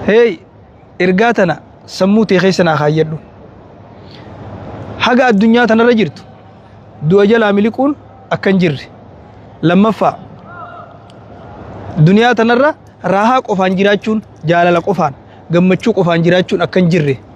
Hey, ergaa tana sammuu tee keessa naa kaayyadhu. Haga addunyaa tanarra jirtu du'a jalaa miliquun akka hin jirre. Lammaffaa duniyaa tanarra raahaa qofaan jiraachuun jaalala qofaan gammachuu qofaan jiraachuun akka hin jirre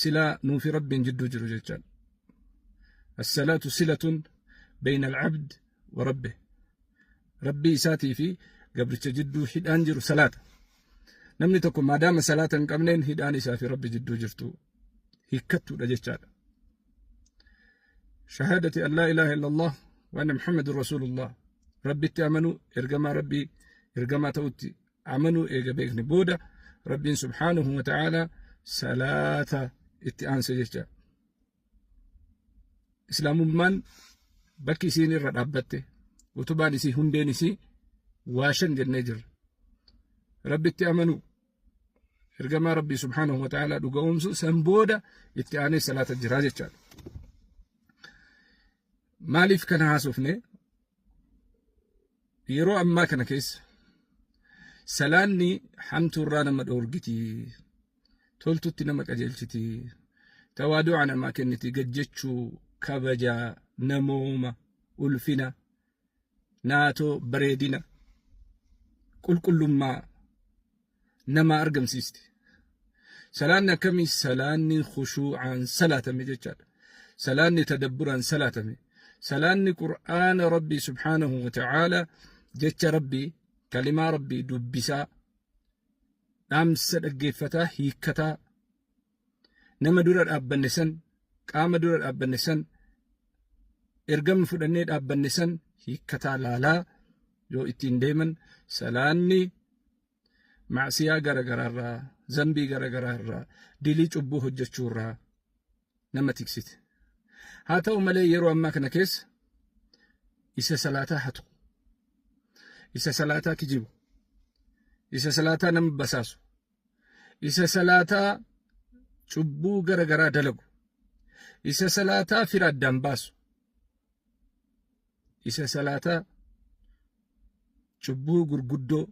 silaa nuu fi rabbiin jidduu jiru jechaan assalaatu silatun bayna alcabd wa rabbe rabbii isaatii fi gabricha jidduu hidhaan jiru salaata namni tokko maadaama salaata hin qabneen hidhaan isaa fi rabbi jidduu jirtu hiikkattuudha jechaadha shahaadati an laa ilaaha illallah wa anna muhammadun rasuulullah rabbitti amanuu ergamaa rabbii ergamaa ta'utti amanuu eega beekne booda rabbiin subhaanahu wa ta'aala salaata itti aansa jecha islaamummaan bakki isiin irra dhaabbatte utubaan isii hundeen isii waa shan jennee jirra rabbitti amanuu ergamaa rabbii subhaanahu wa ta'aala dhuga'oomsu san booda itti aanee salaata jiraa jechaadha maaliif kana haasofne yeroo ammaa kana keessa salaanni hamtuurraa nama dhoorgiti toltutti nama qajeelchiti tawaadu'a namaa kenniti gajjechuu kabaja namooma ulfina naatoo bareedina qulqullummaa namaa argamsiisti. Salaanni akkamii salaanni khushuu'aan salaatame jechaadha. Salaanni tadabburaan salaatame. Salaanni Qur'aana Rabbii subhaanahu wa ta'aala jecha Rabbii kalimaa Rabbii dubbisaa dhaamsa dhaggeeffataa hiikkataa Nama dura dhaabbanne san, qaama dura dhaabbanne san, ergama fudhannee dhaabbanne san hiikkataa laalaa yoo ittiin deeman salaanni macsiyaa garagaraarraa, zambii garagaraarraa, dilii cubbuu hojjechuurraa nama tiksite. Haa ta'u malee yeroo ammaa kana keessa isa salaataa hatu, isa salaataa kijibu, isa salaataa nama basaasu, isa salaataa cubbuu gara garaa dalagu isa salaataa fira addaan baasu isa salaataa cubbuu gurguddoo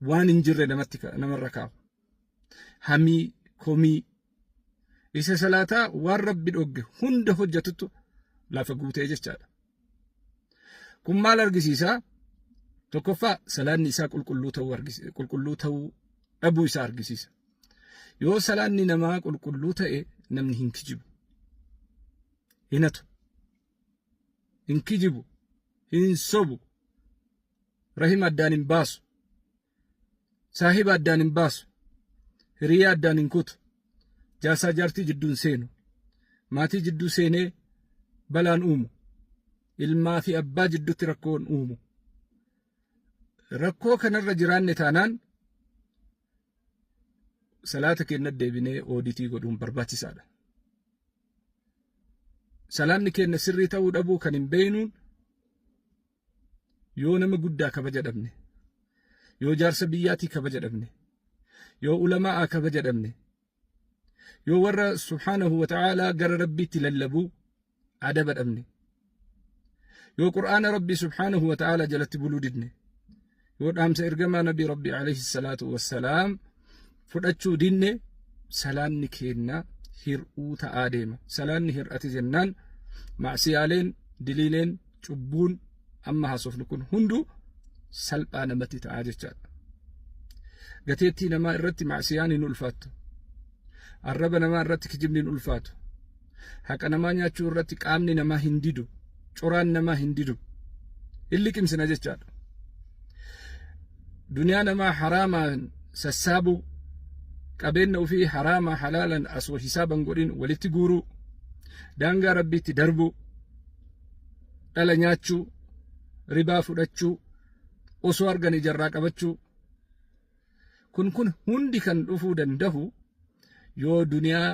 waan hin jirre namatti namarra kaa'u hamii komii isa salaataa waan rabbi dhogge hunda hojjatutu lafa guutee jechaadha Kun maal argisiisa? Tokkoffaa salaanni isaa qulqulluu ta'uu argisiisa. Qulqulluu ta'uu dhabuu isaa argisiisa. Yoo salaanni namaa qulqulluu ta'e namni hin kijibu. Hin hatu. Hin kijibu. Hin sobu. Rahima addaan hin baasu. Saahiba addaan hin baasu. Hiriyaa addaan hin kutu. Jaarsaa jaartii jidduu hin seenu. Maatii jidduu seenee balaan uumu. Ilmaa fi abbaa jidduutti rakkoon uumu. Rakkoo kanarra jiraanne taanaan salaata keenya deebinee ooditii godhuun barbaachisaadha. Salaanni keenya sirrii ta'uu dhabuu kan hin beeknuun yoo nama guddaa kabaja dhabne yoo jaarsa biyyaatii kabaja dhabne yoo ulamaa'a kabaja dhabne yoo warra subhaanahu wa ta'aalaa gara rabbiitti lallabuu adaba dhabne yoo qur'aana rabbii subhaanahu wa ta'aalaa jalatti buluu didne yoo dhaamsa ergamaa nabii rabbii alayhi salaatu wassalaam fudhachuu dinne salaanni keenna hir'uu ta'aa deema salaanni hir'ate jennaan macsiyaaleen diliileen cubbuun amma haasofnu kun hundu salphaa namatti ta'aa jechaadha gateettii namaa irratti macsiyaan hin ulfaattu arraba namaa irratti kijibni hin ulfaatu haqa namaa nyaachuu irratti qaamni namaa hin didu coraan namaa hin didu hin liqimsina jechaadha duniyaa namaa haraamaan sassaabuu qabeenna ofii haraamaa halaalan asoo hisaaban godhin walitti guuruu daangaa rabbiitti darbuu dhala nyaachuu ribaa fudhachuu osoo arganii jarraa qabachuu Kun kun hundi kan dhufuu dandahu yoo duniyaa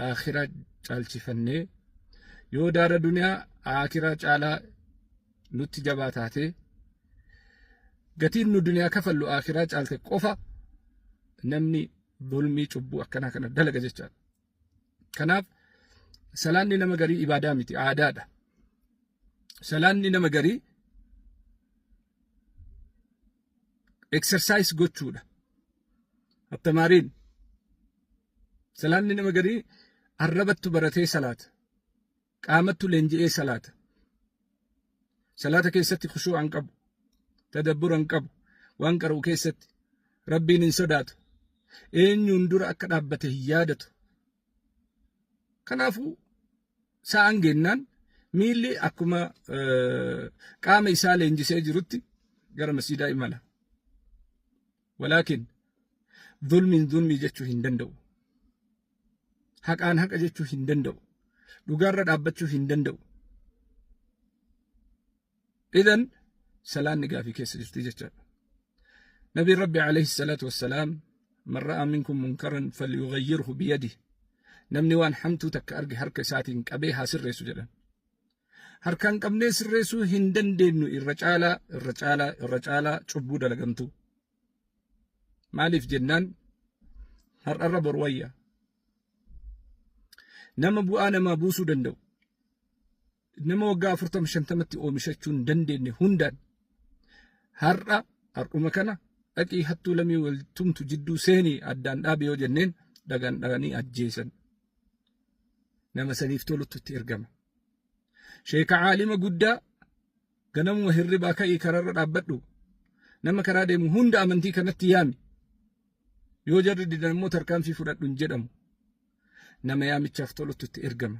aakhiraa caalchifannee yoo daara duniyaa aakhiraa caalaa nutti jabaa taatee gatiin nu duniyaa kafallu aakhiraa caalte qofa namni bulmii cubbuu akkanaa kana dalaga jechaadha. Kanaaf salaanni nama garii ibaadaa miti aadaadha. Salaanni nama garii exercise gochuudha. Attamaariin salaanni nama garii arrabattu baratee salaata. Qaamattu leenji'ee salaata. Salaata keessatti khushuu'a hin qabu. Tadabbura hin qabu. Waan qara'u keessatti rabbiin hin sodaatu. Eenyuun dura akka dhaabbate hin yaadatu. Kanaafuu sa'an gennaan miilli akkuma qaama isaa leenjisee jirutti gara masjiidaa imala. Walaakin zulmiin zulmii jechuu hin danda'u. Haqaan haqa jechuu hin danda'u. Dhugaarra dhaabbachuu hin danda'u. Idan salaanni gaafii keessa jirti jechaadha. Nabiin Rabbi alayhi salaatu wassalaam man ra'aa minkum munkaran falyughayyirhu biyadihi namni waan hamtuu takka arge harka isaatiin qabee haa sirreessu jedhan. Harkaan qabnee sirreessuu hin dandeenyu irra caalaa irra caalaa irra caalaa cubbuu dalagamtu. Maaliif jennaan har'arra bor wayya. Nama bu'aa namaa buusuu danda'u. nama waggaa afurtama shantamatti oomishachuu hin dandeenye hundaan har'a har'uma kana dhaqii hattuu lamii wal tumtu jidduu seenii addaan dhaabi yoo jenneen dhagaan dhaganii ajjeesan nama saniif tolutti itti ergama. Sheeka caalima guddaa ganamuma hirribaa ka'ii karaarra dhaabbadhu nama karaa deemu hunda amantii kanatti yaami yoo jarri didan immoo tarkaanfii fudhadhu hin jedhamu nama yaamichaaf tolutti itti ergama.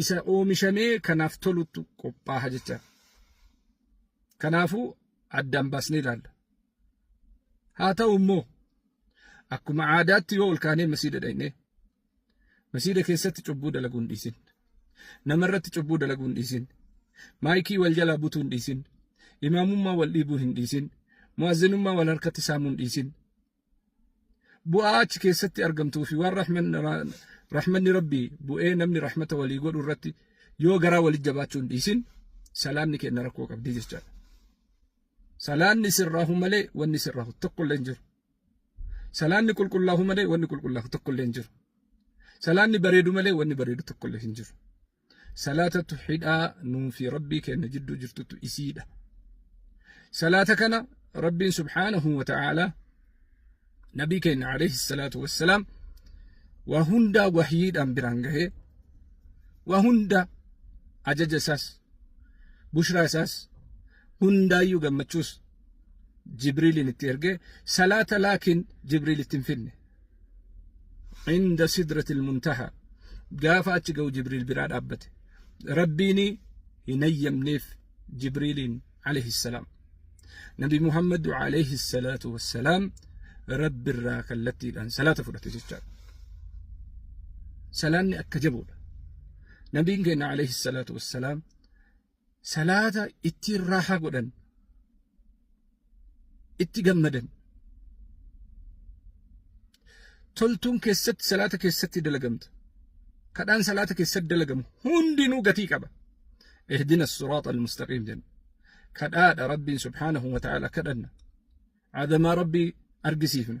isa oomishamee kanaaf toluttu qophaa'a jecha. Kanaafuu addaan baasnee ilaalla. Haa ta'u immoo akkuma aadaatti yoo ol kaanee masiida dhaqnee masiida keessatti cubbuu dalaguu hin dhiisin. Namarratti cubbuu dalaguu hin dhiisin. Maayikii wal jalaa butuu hin dhiisin. Imaamummaa wal dhiibuu hin dhiisin. Mu'azzinummaa wal harkatti saamuu hin dhiisin. bu'aa achi keessatti argamtuu fi waan rahmanni rabbii bu'ee namni rahmata walii godhu irratti yoo garaa walii jabaachuu hin dhiisin salaanni kenna rakkoo qabdi jechaadha. Salaanni sirraahu malee wanni sirraahu tokko illee hin jiru. Salaanni qulqullaahu malee wanni qulqullaahu tokko illee hin jiru. Salaanni bareedu malee wanni bareedu tokko illee hin jiru. salaatatu hidhaa nuu fi rabbii keenna jidduu jirtutu isiidha salaata kana rabbiin subhaanahu wa ta'aalaa nabii keenna alayhi salaatu wassalaam waa hundaa wahyiidhaan biraan gahee waa hunda ajaja isaas bushraa isaas hundaayyuu gammachuus jibriiliin itti ergee salaata laakiin jibriil itti hin finne inda sidratil muntaha gaafa achi ga'u jibriil biraa dhaabbate rabbiin hin hayyamneef jibriiliin alayhi salaam nabi muhammadu alayhi salaatu wassalaam rabbi irraa kallattiidhaan salaata fudhate jechaadha salaanni akka jabuudha nabiin keenya alayhi salaatu wassalaam salaata ittiin raaha godhan itti gammadan toltuun keessatti salaata keessatti dalagamta kadhaan salaata keessatti dalagamu hundinuu gatii qaba ihdina siraata almustaqiim jenna kadhaadha rabbiin subhaanahu wa ta'aala kadhanna adamaa rabbii argisiifna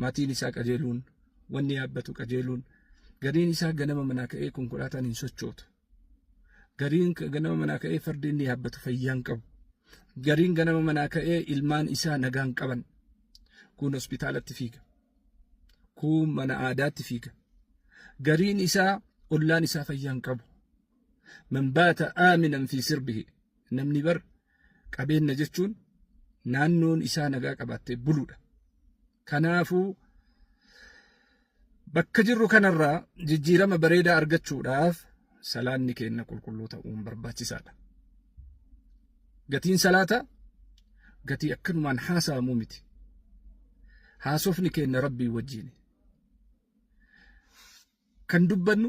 maatiin isaa qajeeluun, wanni yaabbatu qajeeluun, gariin isaa ganama manaa ka'ee konkolaataan hin sochootu. Gariin ganama manaa ka'ee fardi inni yaabbatu fayyaan qabu. Gariin ganama manaa ka'ee ilmaan isaa nagaan qaban. Kun hospitaalatti fiiga. Kun mana aadaatti fiiga. Gariin isaa ollaan isaa fayyaan qabu. Man baata aaminan fi sirbihi. Namni bar Qabeenna jechuun naannoon isaa nagaa qabaattee buluudha. Kanaafuu bakka jirru kanarraa jijjiirama bareedaa argachuudhaaf salaanni keenna qulqulluu ta'uun barbaachisaadha. Gatiin salaata gatii akkanumaan haasa'amu miti. Haasofni keenna rabbii wajjiini. Kan dubbannu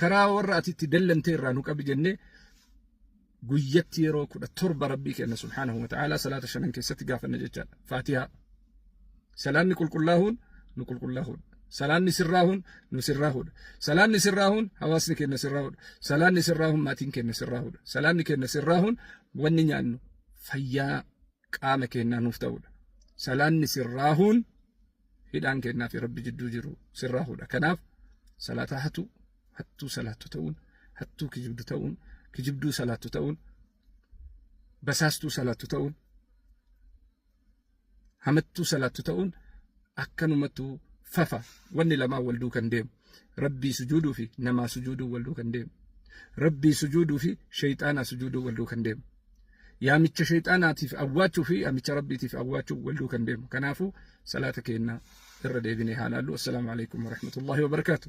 karaa warra ati itti dallante irraa nu qabi jennee guyyatti yeroo kudha torba rabbii kenna subhaanahu wa ta'aalaa salaata shanan keessatti gaafanna jechaadha faatihaa salaanni qulqullaahuun nu qulqullaahuudha salaanni sirraahuun nu sirraahuudha salaanni sirraahuun hawaasni kenna sirraahuudha salaanni sirraahuun maatiin kenna sirraahuudha salaanni kenna sirraahuun wanni nyaannu fayyaa qaama kennaa nuuf ta'uudha salaanni sirraahuun hidhaan kennaa fi rabbi jidduu jiru sirraa hudha kanaaf salaataa hatu hattuu salaattu ta'uun hattuu kijibdu ta'uun kijibduu salaattu ta'uun basaastuu salaattu ta'uun hamattuu salaattu ta'uun akkanumattuu fafa wanni lamaa wal duukan deemu rabbii sujuuduu fi namaa sujuuduu wal duukan deemu rabbii sujuuduu fi shayxaanaa sujuuduu wal duukan deemu yaamicha sheexaanaatiif awwaachuu fi yaamicha rabbiitiif awwaachuu walduu kan deemu kanaafuu salaata keenya irra deebinee haa laallu assalaamu alaikum warahmatullaahi wabarakaatu